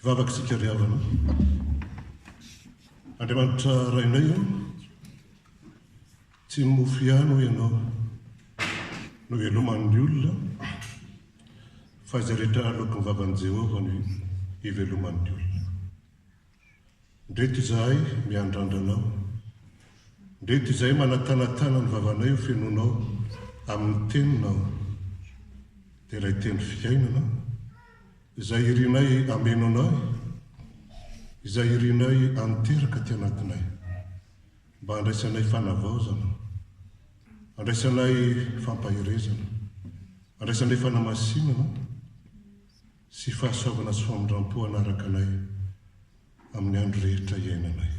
Hivavaka isika ry havana. Andriamanitra Rainay ô, tsy ny mofo ihany hoy ianao no hiveloman'ny olona fa izay rehetra aloaky ny vavan'i Jehovah no hiveloman'ny olona. Ndreto izahay miandrandra anao. Ndreto izahay manatanatana ny vavanay ho fenoinao amin'ny Teninao. Dia ilay Teny Fiainana, izay irinay hameno anay, izay irinay haninteraka aty anatinay, mba handraisanay fanavaozana, handraisanay fampaherezana, handraisanay fanamasinana, sy fahasoavana sy famindrampo hanaraka anay amin'ny andro rehetra iainanay.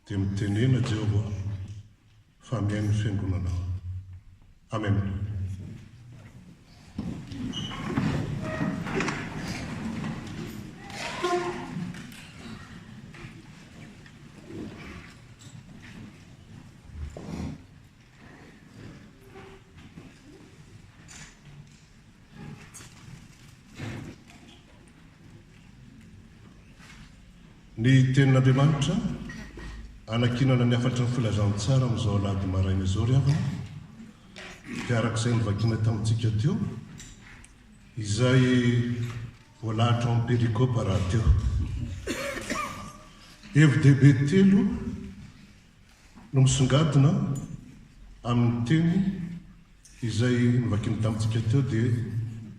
Dia mitenena Jehovah fa mihaino ny fiangonanao. Amena. Ny Tenin'Andriamanitra, hanankinana ny hafatry ny Filazantsara amin'izao Alahady maraina izao ry havana, dia araka izay novakina tamintsika teo, izay voalahatra ao amin'ny perikopa rahateo. Hevi-dehibe telo. no misongadina amin'ny teny izay novakiany tamintsika teo dia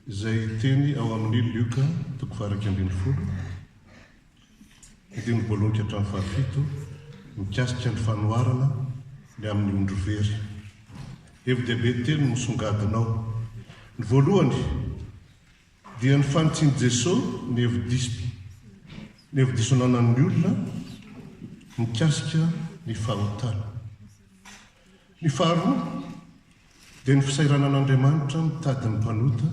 izay teny ao amin'ny Lioka toko fahairaika ambin'ny folo andininy voalohany ka hatramin'ny fahafito mikasika ny fanoharana ny amin'ny ondry very. Hevi-dehibe telo no misongadina ao. Ny voalohany, Dia ny fanitsian'i Jesosy ny hevi-diso ny hevi-diso ananan'ny olona mikasika ny fahotana. Ny faharoa dia ny fisairanan'Andriamanitra mitady ny mpanota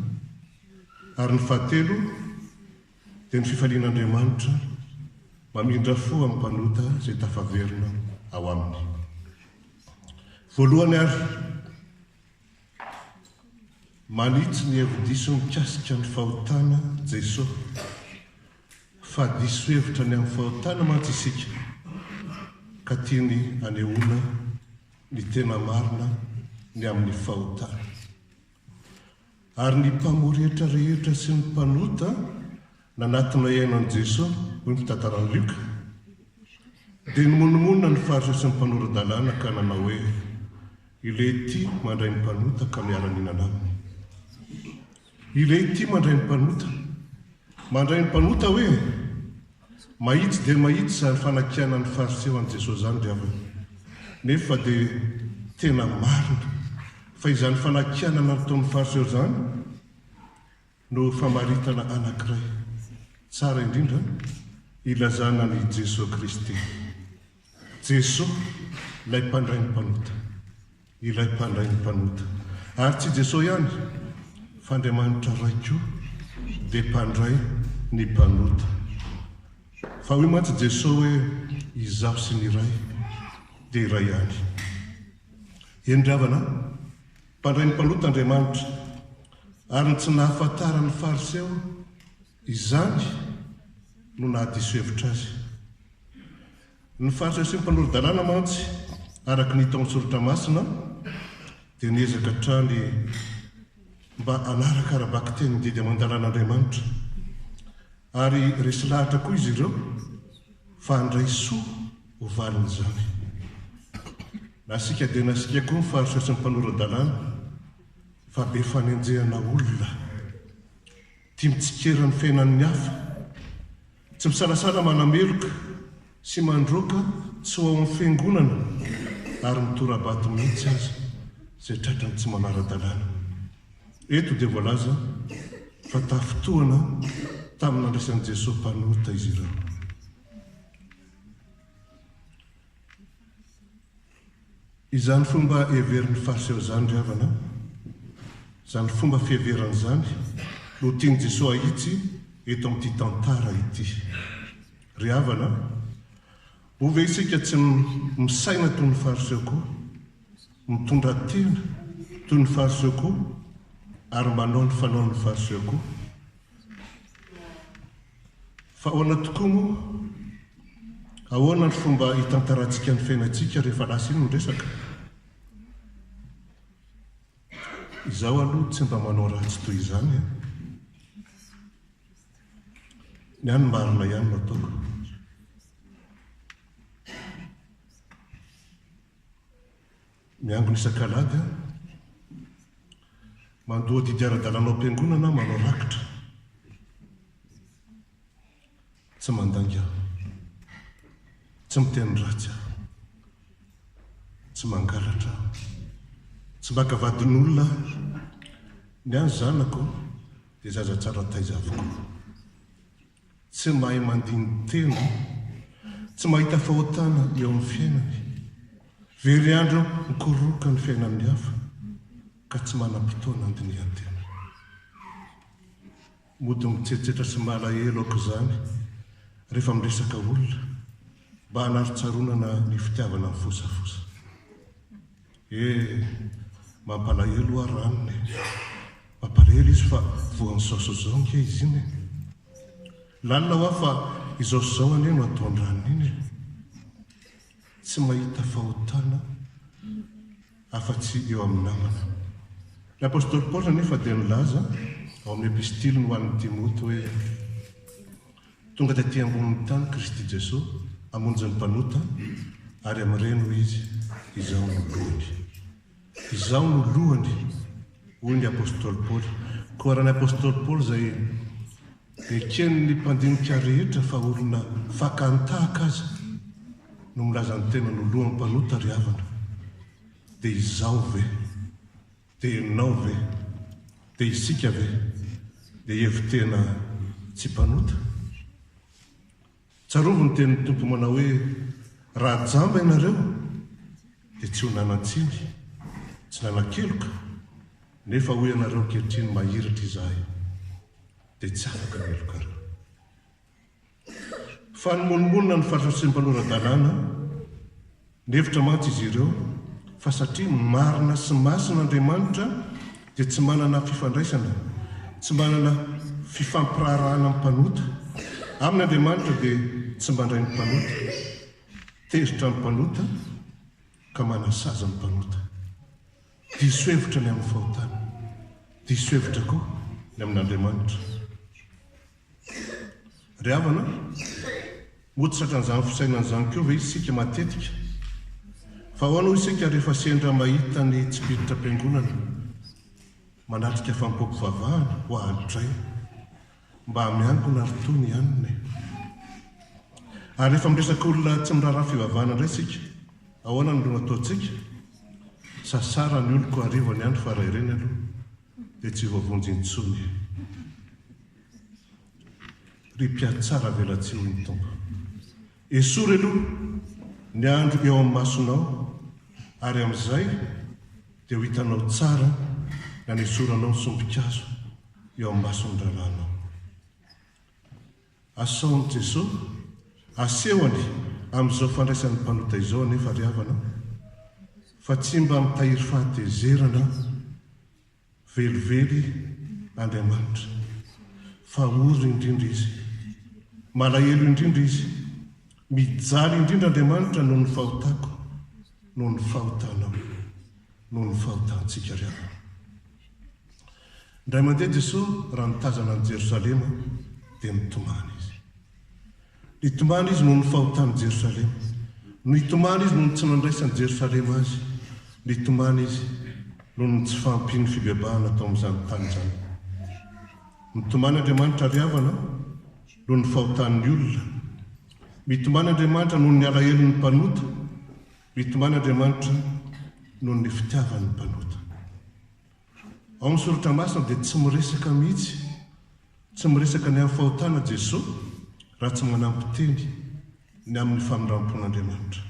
ary ny fahatelo dia ny fifalian'Andriamanitra mamindra fo amin'ny mpanota izay tafaverina ao aminy. Voalohany ary. Manitsy ny hevi-diso mikasika ny fahotana Jesoa. Fa diso hevitra ny amin'ny fahotana mantsy isika, ka tiany hanehoana ny tena marina ny amin'ny fahotana. Ary ny mpamory hetra rehetra sy ny mpanota Nanatona hihaino an'i Jesoa, hoy ny fitantaran'i Lioka, dia nimonomonona ny Fariseo sy ny mpanora-dalàna ka nanao hoe, Ilay ity mandray ny mpanota ka miara-mihinana aminy. Ilay ity mandray ny mpanota. Mandray ny mpanota hoe? Mahitsy dia mahitsy izany fanakianan'ny Fariseo an'i Jesoa izany ry havana. Nefa dia tena marina fa izany fanakianana nataon'ny Fariseo izany, No famaritana anankiray tsara indrindra ilazana an'i Jesoa Kristy. Jesoa ilay mpandray ny mpanota. Ilay mpandray ny mpanota. Ary tsy Jesoa ihany fa Andriamanitra Ray koa dia mpandray ny mpanota. Fa hoy mantsy Jesoa hoe Izaho sy ny Ray dia iray ihany. Eny ry havana a! Mpandray ny mpanota Andriamanitra. Ary ny tsy nahafantaran'ny Fariseo izany no nahadiso hevitra azy. Ny Fariseo sy ny mpanoro-dalàna mantsy, araka ny hita ao amin'ny Soratra Masina, dia niezaka hatrany mba hanaraka ara-bakiteny ny didy aman-dalàn'Andriamanitra. Ary resy lahatra koa izy ireo fa handray soa. Ho valin'izany. Nasiaka dia nasiaka koa ny faritra sy ny mpanora-dalàna fa be fanenjehana olona, tia mitsikera ny fiainan'ny hafa, tsy misalasala manameloka sy mandroaka tsy ho ao amin'ny fiangonana ary mitora-bato mihitsy aza izay tratran'ny tsy manara-dalàna. Eto dia voalaza fa tafintohana tamin'ny nandraisan'i Jesoa mpanota izy ireo. Izany fomba heverin'ny Fariseo izany, ry havana, izany fomba fiheverana izany no tian'i Jesoa hahitsy eto amin'ity tantara ity. Ry havana, moa ve isika tsy misaina toy ny Fariseo koa, mitondra tena toy ny Fariseo koa ary manao ny fanaon'ny Fariseo koa? Fa ahoana tokoa moa? Ahoana ny fomba hitantarantsika ny fiainantsika rehefa lasa iny ny resaka? Izaho aloha tsy mba manao ratsy toy izany an! Ny ahy ny marina ihany no ataoko. Miangona isak'alahady aho. Mandoa didy ara-dalàna ao am-piangonana aho, manao rakitra. Tsy mandainga aho. Tsy miteny ratsy aho. Tsy mangalatra aho. Tsy maka vadin'olona aho. Ny ahy ny zanako dia zaza tsara taiza avokoa. Tsy mahay mandini-tena, tsy mahita fahotana eo amin'ny fiainany, very andro mikoroka ny fiainan'ny hafa ka tsy manam-potoana handinihan-tena. Mody mitsetsetra sy malahelo aoka izany rehefa miresaka olona mba hanarontsaronana ny fitiavana mifosafosa. Eh! Mampalahelo oa Ranona e! Mampalahelo izy fa voan'ny saosy zao ange izy iny e! Lalina oa fa izao sy izao anie no ataon-dRanona iny e! Tsy mahita fahotana afa-tsy eo amin'ny namana. Ny apostoly Paoly anefa dia nilaza ao amin'ny epistiliny ho an'i Timoty hoe. Tonga taty ambonin'ny tany Kristy Jesoa hamonjy ny mpanota, ary amin'ireny hoy Izy, Izaho no lohany. Izaho no lohany, hoy ny Apostoly Paoly. Koa raha ny Apostoly Paoly izay eken'ny mpandinika rehetra fa olona fakan-tahaka aza no milaza ny tenany ho lohan'ny mpanota ry havana, dia izaho ve? Dia ianao ve? Dia isika ve? Dia hevi-tena tsy mpanota? Tsarovy ny tenin'ny Tompo manao hoe, Raha jamba ianareo, dia tsy ho nanan-tsiny, tsy nanan-keloka, nefa hoy ianareo ankehitriny, Mahiratra izahay, dia tsy afaka ny helokareo. Fa nimonomonona ny fahasarotsian'ny mpanora-dalàna. Nihevitra mantsy izy ireo fa satria marina sy masina Andriamanitra dia tsy manana fifandraisana, tsy manana fifampiraharahana amin'ny mpanota. Aminy Andriamanitra dia tsy mandray ny mpanota, tezitra ny mpanota ka manasazy ny mpanota. Diso hevitra ny amin'ny fahotana. Diso hevitra koa ny amin'Andriamanitra. Ry havana, moa tsy tratran'izany fisainana izany koa ve isika matetika? Fa ahoana hoy isika rehefa sendra mahita ny tsipiritam-piangonana manatrika fanompoam-pivavahana ho ahalotray? Mba miangona ry Tony ihany e! Ary rehefa miresaka olona tsy miraharaha fivavahana indray isika, ahoana no ataontsika? Sasara ny oloko hariva ny andro fa raha ireny aloha, dia tsy voavonjy intsony ry mpiatsaravelatsihin'ny Tompo. Esory aloha ny andro eo amin'ny masonao, ary amin'izay dia ho hitanao tsara na ny esoranao sombin-kazo eo amin'ny mason'ny rahalahinao. Asaon'i Jeso asehony amin'izao fandraisan'ny mpanota izao anefa ry havana fa tsy mba mitahiry fahatezerana velively Andriamanitra fa ory indrindra Izy, malahelo indrindra Izy, mijaly indrindra Andriamanitra noho ny fahotako, noho ny fahotanao, noho ny fahotantsika ry havana. Indray mandeha Jesoa raha nitazana an'i Jerosalema dia nitomany Izy. Nitomany Izy noho ny fahotan'i Jerosalema. Nitomany Izy noho ny tsy nandraisan'i Jerosalema Azy. Nitomany Izy noho ny tsy fahampian'ny fibebahana tao amin'izany tany izany. Mitomany Andriamanitra ry havana noho ny fahotan'ny olona. Mitomany Andriamanitra noho ny alahelon'ny mpanota. Mitomany Andriamanitra noho ny fitiavan'ny mpanota. Ao amin'ny Soratra Masina dia tsy miresaka mihitsy, tsy miresaka ny amin'ny fahotana Jesoa raha tsy manampy teny ny amin'ny famindram-pon'Andriamanitra.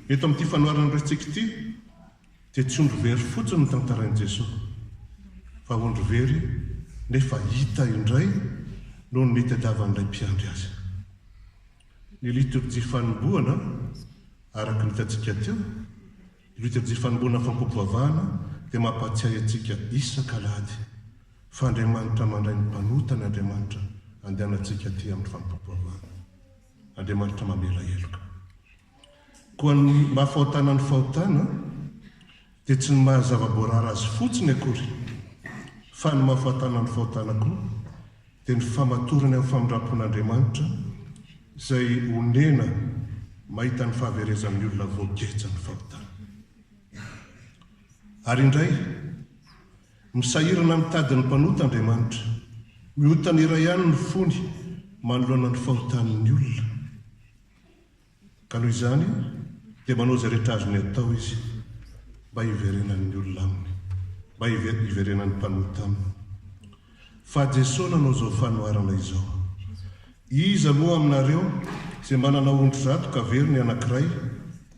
Eto amin'ity fanoharana resintsika ity dia tsy ondry very fotsiny no tantarain'i Jesoa fa ondry very nefa hita indray noho ny nitadiavan'ilay mpiandry azy. Ny litorjia fanombohana, araka ny hitantsika teo, Io dia jifanomboana fampivavahana dia mampahatsiahy antsika isaka alahady fa Andriamanitra mandray ny mpanota ny Andriamanitra andehanantsika aty amin'ny fampivavahana. Andriamanitra mamela heloka. Koa ny maha fahotana ny fahotana dia tsy ny maha zava-boarara azy fotsiny akory fa ny maha fahotana ny fahotana koa dia ny famatorany amin'ny famindram-pon'Andriamanitra izay onena mahita ny fahaverezan'ny olona voageja ny fahotany. Ary indray, misahirana mitady ny mpanota Andriamanitra, mihotana iray ihany ny fony manoloana ny fahotan'ny olona. Ka noho izany dia manao izay rehetra azony atao izy mba hiverenan'ny olona aminy, mba hiverenan'ny mpanota aminy. Fa Jesoa nanao izao fanoharana izao, Iza moa aminareo izay manana ondry zato ka very ny anankiray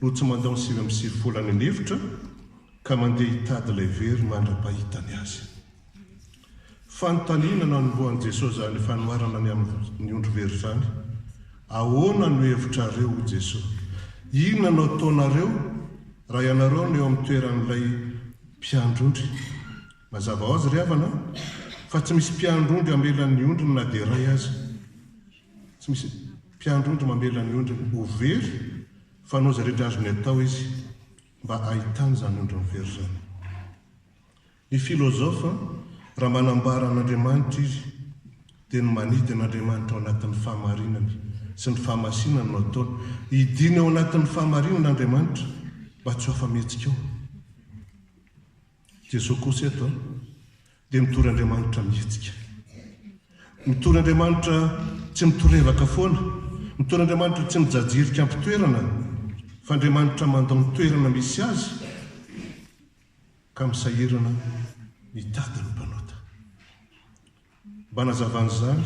no tsy mandao ny sivy amby sivifolo any an'efitra ka mandeha hitady ilay very mandra-pahitany azy? Fanontaniana nanombohan'i Jesoa izany fanoharana ny amin'ny ondry very izany, Ahoana no hevitrareo, hoy Jesoa, inona no ataonareo raha ianareo no eo amin'ny toeran'ilay mpiandry ondry? Mazava hoazy ry havana fa tsy misy mpiandry ondry hamela ny ondriny na dia iray aza. Tsy misy mpiandry ondry mamela ny ondriny ho very fa hanao izay rehetra azony atao izy mba hahitany izany ondriny very izany. Ny filozofa, raha manambara an'Andriamanitra izy, dia ny manidy an'Andriamanitra ao anatin'ny fahamarinany sy ny fahamasinany no ataony. Idiany ao anatin'ny fahamarinana Andriamanitra mba tsy ho afa-mihetsika ao. Jesoa kosa eto dia mitory Andriamanitra mihetsika. Mitory Andriamanitra tsy mitorevaka foana, mitory Andriamanitra tsy mijajirika am-pitoerana, fa Andriamanitra mandao ny toerana misy azy, ka misahirana mitady ny mpanota. Mba hanazavana izany,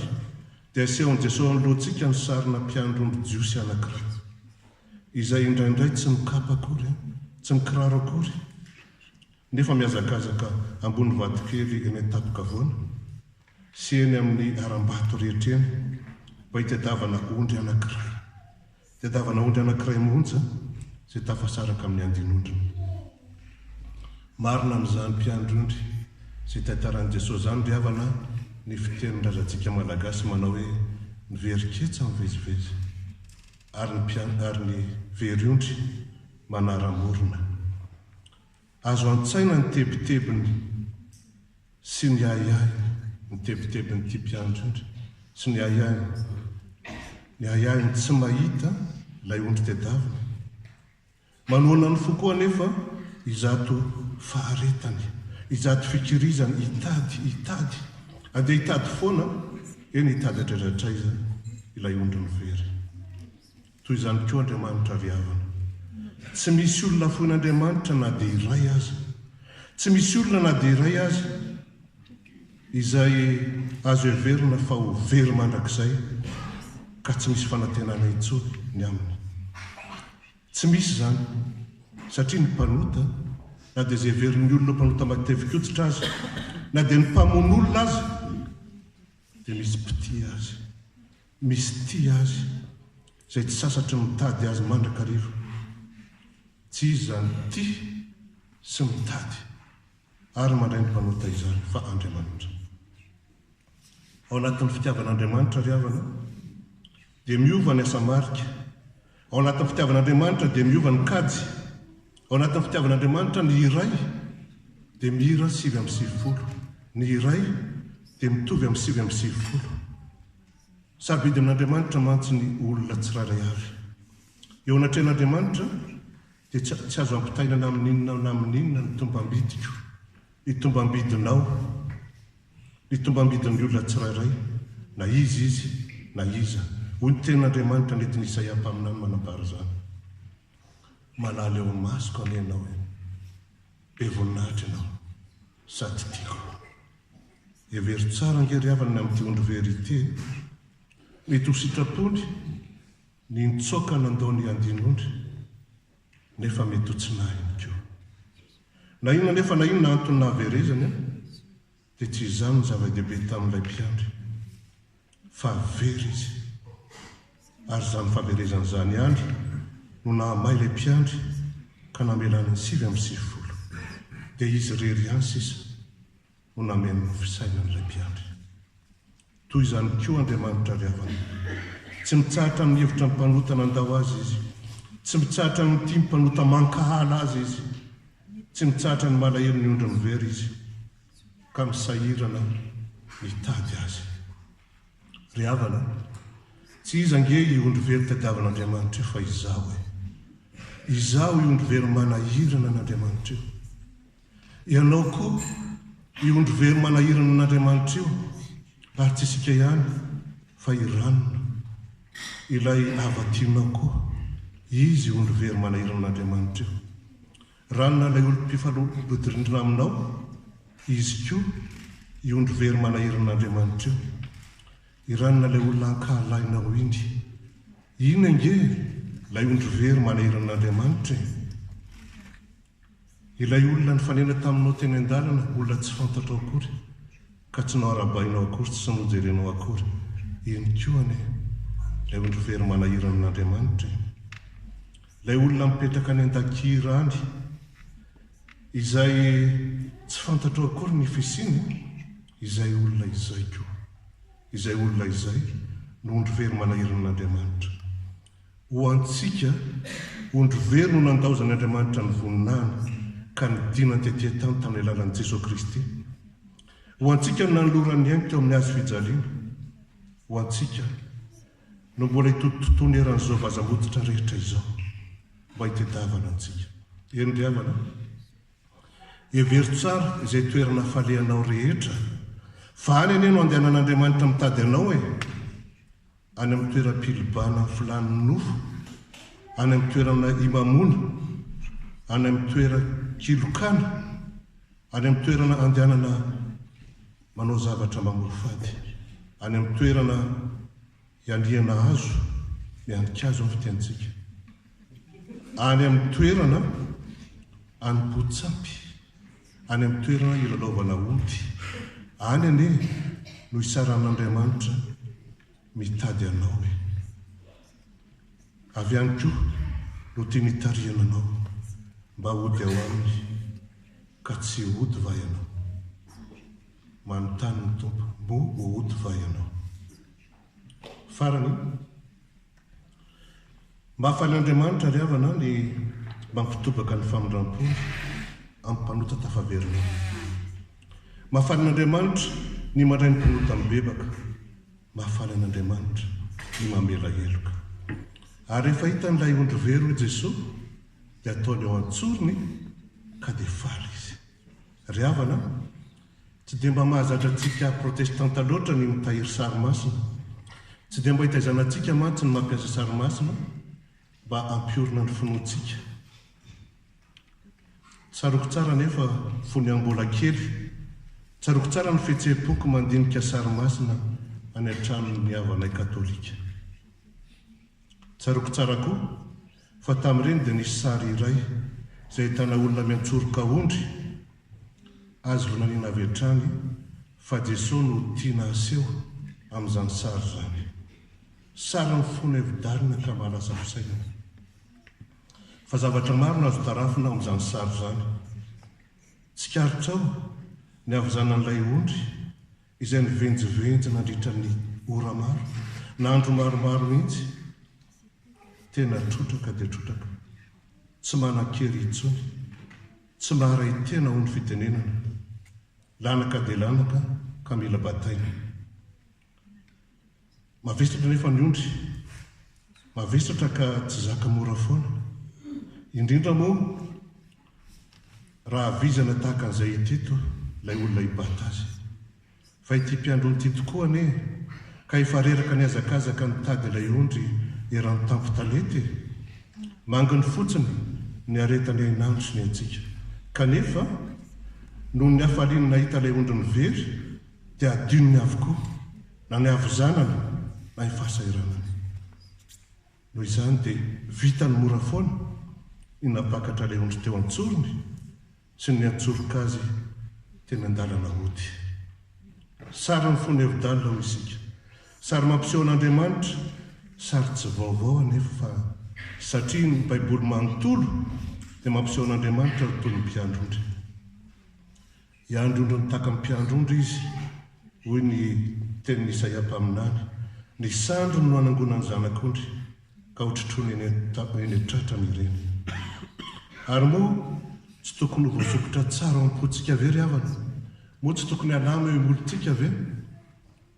dia asehon'i Jesoa anoloantsika ny sarina mpiandry omby jiosy anankiray, izay indraindray tsy mikapa akory, tsy mikiraro akory, nefa mihazakazaka ambony vatokely eny an-tampon-kavoana sy eny amin'ny harambato rehetra eny, mba hitadiavana ondry anankiray Tadiavana ondry anankiray monja izay tafasaraka amin'ny andin'ondriny. Marina amin'izany mpiandry ondry izay tantaran'i Jesosy izany ry havana ny fitenin-drazantsika malagasy manao hoe ny very ketsa mivezivezy ary ny mpiandry ary ny very ondry manaram-borona. Azo an-tsaina ny tebitebiny sy ny ahiahiny, ny tebitebin'ity mpianatra indry sy ny ahiahiny, ny ahiahiny tsy mahita ilay ondry tedaviny. Manohana ny fo koa anefa izato faharetany, izato fikirizany hitady, hitady, andeha hitady foana, eny hitady hatraiza hatraiza ilay ondriny very. Toy izany koa Andriamanitra ry havana. Tsy misy olona foin'Andriamanitra na dia iray aza. Tsy misy olona na dia iray aza izay azo heverina fa ho very mandrakizay ka tsy misy fanantenana intsony ny aminy. Tsy misy izany satria ny mpanota, na dia izay heverin'ny olona ho mpanota matevikoditra aza, na dia ny mpamono olona aza dia misy mpitia azy. Misy tia azy izay tsy sasatry ny mitady azy mandrakariva. Tsy izy izany tia sy mitady ary mandray ny mpanota izany fa Andriamanitra. Ao anatin'ny fitiavan'Andriamanitra ry havana dia miova ny asa marika Ao anatin'ny fitiavan'Andriamanitra dia miova ny kajy. Ao anatin'ny fitiavan'Andriamanitra ny iray dia mira sivy amby sivifolo. Ny iray dia mitovy amin'ny sivy amby sivifolo. Sarobidy amin'Andriamanitra mantsy ny olona tsirairay avy. Eo anatrehan'Andriamanitra, dia tsy tsy azo ampitainana amin'inona na amin'inona ny tombam-bidiko, ny tombam-bidinao, ny tombam-bidin'ny olona tsirairay, na iza izy, na iza, hoy ny tenin'Andriamanitra nentin'i Isaia mpaminany manambara izany. Malala eo imasoko anie ianao e! Be voninahitra ianao, sady tiako. Hevero tsara ange ry havana ny amin'ity ondry very ity e! Mety ho sitrapony Ny nitsoaka nandao ny andinondry nefa mety ho tsy nahy ihany koa. Na inona anefa na inona antony nahaverezany dia tsy izany no zava-dehibe tamin'ilay mpiandry fa very izy. Ary izany fahaverezany izany ihany no nahamay ilay mpiandry ka namelany ny sivy amby sivifolo. Dia izy irery ihany sisa no nameno ny fisainan'ilay mpiandry. Toy izany koa Andriamanitra avy avana. Tsy mitsahatra amin'ny hevitra ny mpanota nandao azy Izy. Tsy mitsahatra ny mitia ny mpanota mankahala azy Izy. Tsy mitsahatra ny malahelo ny ondriny very Izy, ka misahirana mitady azy. Ry havana, tsy iza ange io ondry very tadiavin'Andriamanitra io fa izaho e! Izaho io ondry very manahirana an'Andriamanitra io. Ianao koa io ondry very manahirana an'Andriamanitra io, ary tsy isika ihany fa i Ranona, ilay hava-tianao koa, izy io ondry very manahirana an'Andriamanitra io. Ranona ilay olom-pifalodrindrina aminao, izy koa io ondry very manahirana an'Andriamanitra io. I Ranona ilay olona ankahalahinao iny, iny ange ilay ondry very manahirana an'Andriamanitra e! Ilay olona nifanena taminao teny an-dalana olona tsy fantatrao akory ka tsy noharabainao akory tsy nojerenao akory iny koa anie ilay ondry very manahirana an'Andriamanitra e! Ilay olona mipetraka any an-dakira any izay tsy fantatrao akory ny fisiany izay olona izay koa izay olona izay no ondry very manahirana an'Andriamanitra Ho antsika, ondry very no nandaozan' Andriamanitra ny voninahiny ka nidinany tety an-tany tamin'ny alalan'i Jesoa Kristy. Ho antsika no nanolorany ainy teo amin'ny hazo fijaliana. Ho antsika no mbola hitotototony eran'izao vazam-bototra rehetra izao mba hitedavana antsika. Eny ry havana an! Hevero tsara izay toerana hafalehanao rehetra fa any anie no andehanan'Andriamanitra mitady anao e! any amin'ny toeram-pilibana filàn'ny nofo, any amin'ny toerana imamoana, any amin'ny toeran-kilokana, any amin'ny toerana andehanana manao zavatra mamoafady, any amin'ny toerana ialihana hazo, mihanin-kazo ny fitenintsika, any amin'ny toerana anim-potsapy. any amin'ny toerana ilalaovana ody. Any anie no hitsaran'Andriamanitra mitady anao e! Avy any koa no tiany hitarihana anao mba hody ao Aminy ka tsy hody va ianao? Manontany ny Tompo, Moa ho hody va ianao? Farany, mba ahafahan'Andriamanitra ry havana ny mampitobaka ny famindram-pony amin'ny mpanota tafaverina ao. Mafana an'Andriamanitra ny mandray ny mpanota mibebaka, mafana an'Andriamanitra ny mamela heloka. Ary rehefa hitan'ilay ondry very hoy Jesoa dia ataony ao an-tsorony ka dia faly izy. Ry havana a, tsy dia mba mahazatra antsika protestanta loatra ny mitahiry sary masina. Tsy dia mba hitaizanantsika mantsy ny mampiasa sary masina mba hampiorina ny finoantsika. Tsaroako tsara anefa fony aho mbola kely, tsaroako tsara ny fihetseham-poko mandinika sary masina any an-tranon'ny havanay katolika. Tsaroako tsara koa fa tamin'ireny dia nisy sary iray izay ahitana olona miantsoroka ondry azy ireo nanina avy hatrany fa Jesoa no tiana haseho amin'izany sary izany. Sary mifono hevi-dalina ka mahalasa fisainana. Fa zavatra maro no azo tarafina ao amin'izany sary izany. Tsikaritrao ny havizanan'ilay ondry izay nivenjivenjy nandritra ny ora maro na andro maromaro mihitsy, tena trotraka dia trotraka, tsy manan-kery intsony, tsy maharay tena hoy ny fitenenana, lanaka dia lanaka ka mila bataina. Mavesatra anefa ny ondry, mavesatra ka tsy zaka mora foana, indrindra moa raha vizana tahaka an'izay hita eto ilay olona hibata azy. Fa ity mpiandry ondry ity tokoa anie ka efa reraka nihazakazaka nitady ilay ondry eran'ny tampon-talenta e! Manginy fotsiny ny aretan'i Hainandro sy ny antsika, kanefa noho ny hafaliany nahita ilay ondriny very dia hadinony avokoa na ny havizanana na ny fahasahiranana. Noho izany dia vitany mora foana ny nampakatra ilay ondry teo an-tsorony sy ny niantsoroka azy teny an-dalana hody. Sary ny fony Eudale hoy isika, sary mampiseho an'Andriamanitra, sary tsy vaovao anefa fa satria ny Baiboly manontolo dia mampiseho an'Andriamanitra ho toy ny mpiandry ondry. Hiandry ondry mitaky ny mpiandry ondry izy, hoy ny tenin'i Isaia mpaminany, Ny sandriny no hanangonany zanak'ondry, ka hotrotroiny eny an-tratrany ireny. Ary moa tsy tokony ho voasokitra tsara ao am-pontsika ve ry havana? Moa tsy tokony halama eo imolontsika ve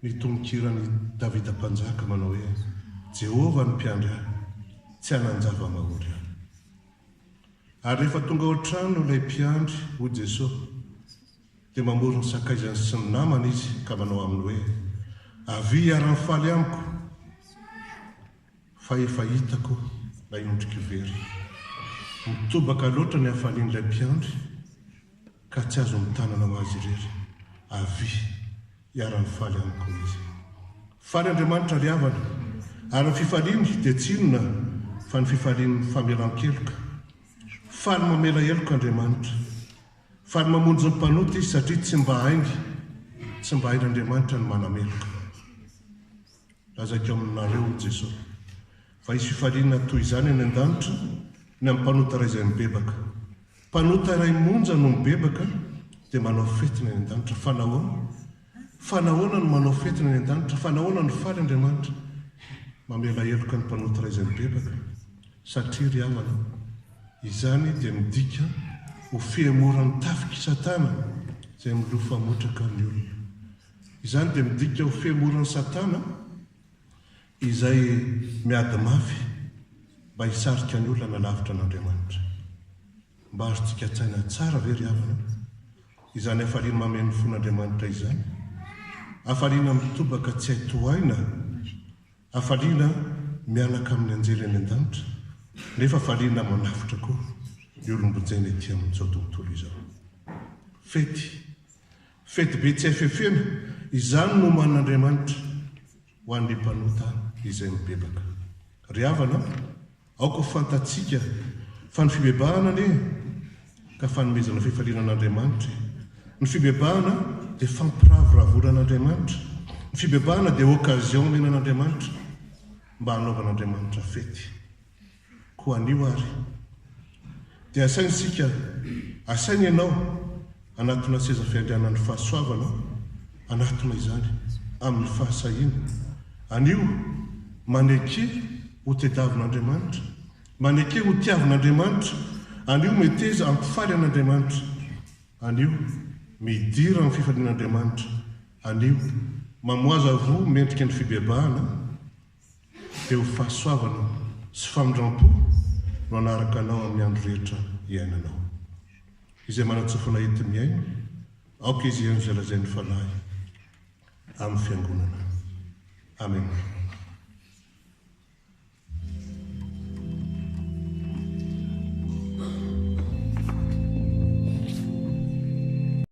ny tononkiran'i Davida Mpanjaka manao hoe, Jehovah no mpiandry ahy, tsy hanan-java-mahory aho. Ary rehefa tonga ao an-trano ilay mpiandry, hoy Jesosy, dia mamory ny sakaizany sy ny namany izy ka manao aminy hoe, Avia hiara-mifaly amiko, fa efa hitako ilay ondriko very. Mitobaka loatra ny hafalian'ilay mpiandry Ka tsy azo mitanana ho azy irery. Avia, hiara-mifaly amiko izy. Faly Andriamanitra ry havana, ary ny fifaliany dia tsy inona fa ny fifalian'ny famelan-keloka. Faly mamela heloka Andriamanitra. Faly mamonjy ny mpanota Izy satria tsy mba hainy, tsy mba hain'Andriamanitra ny manameloka. Lazaiko aminareo, Jeso, fa hisy fifaliana toy izany any an-danitra ny amin'ny mpanota iray izay mibebaka. Mpanota iray monja no mibebaka dia manao fety ny any an-danitra. Fa nahoana? Fa nahoana no manao fety ny any an-danitra? Fa nahoana no faly Andriamanitra mamela heloka ny mpanota iray izay mibebaka? Satria, ry havana, izany dia midika ho fihemoran'ny tafik'i Satana izay milofa motraka ny olona. Izany dia midika ho femoran'i Satana izay miady mafy mba hisarika ny olona lavitra an'Andriamanitra. Mba azontsika an-tsaina tsara ve ry havana izany hafaliana mameno fon'Andriamanitra izany, hafaliana mitobaka tsy hay tohaina, hafaliana mianaka amin'ny anjely any an-danitra, nefa hafaliana manafotra koa ny olom-bojaina ety amin'izao tontolo izao? Fety Fetibe tsy hay fefena, izany no omanin'Andriamanitra ho an'ny mpanota izay mibebaka. Ry havana, aoka ho fantatsika fa ny fibebahana anie ka fanomezana fifaliana an'Andriamanitra e! Ny fibebahana dia fampiravoravoana an'Andriamanitra. Ny fibebahana dia occasion omena an'Andriamanitra mba hanaovan'Andriamanitra fety. Koa anio ary dia asaina isika, asaina ianao hanatona seza fiandrianan'ny fahasoavana, hanatona izany amin'ny fahasahiana. Anio, maneke ho tedavin'Andriamanitra, maneke ho tiavin'Andriamanitra. Anio, meteza hampifaly an'Andriamanitra. Anio, midira amin'ny fifalian'Andriamanitra. Anio, mamohaza voa mendrika ny fibebahana. dia ho fahasoavana sy famindrampo no hanaraka anao amin'ny andro rehetra iainanao. Izay manatsofina hety mihaino, aoka izy hihaino izay lazain'ny Fanahy amin'ny Fiangonana. Amena.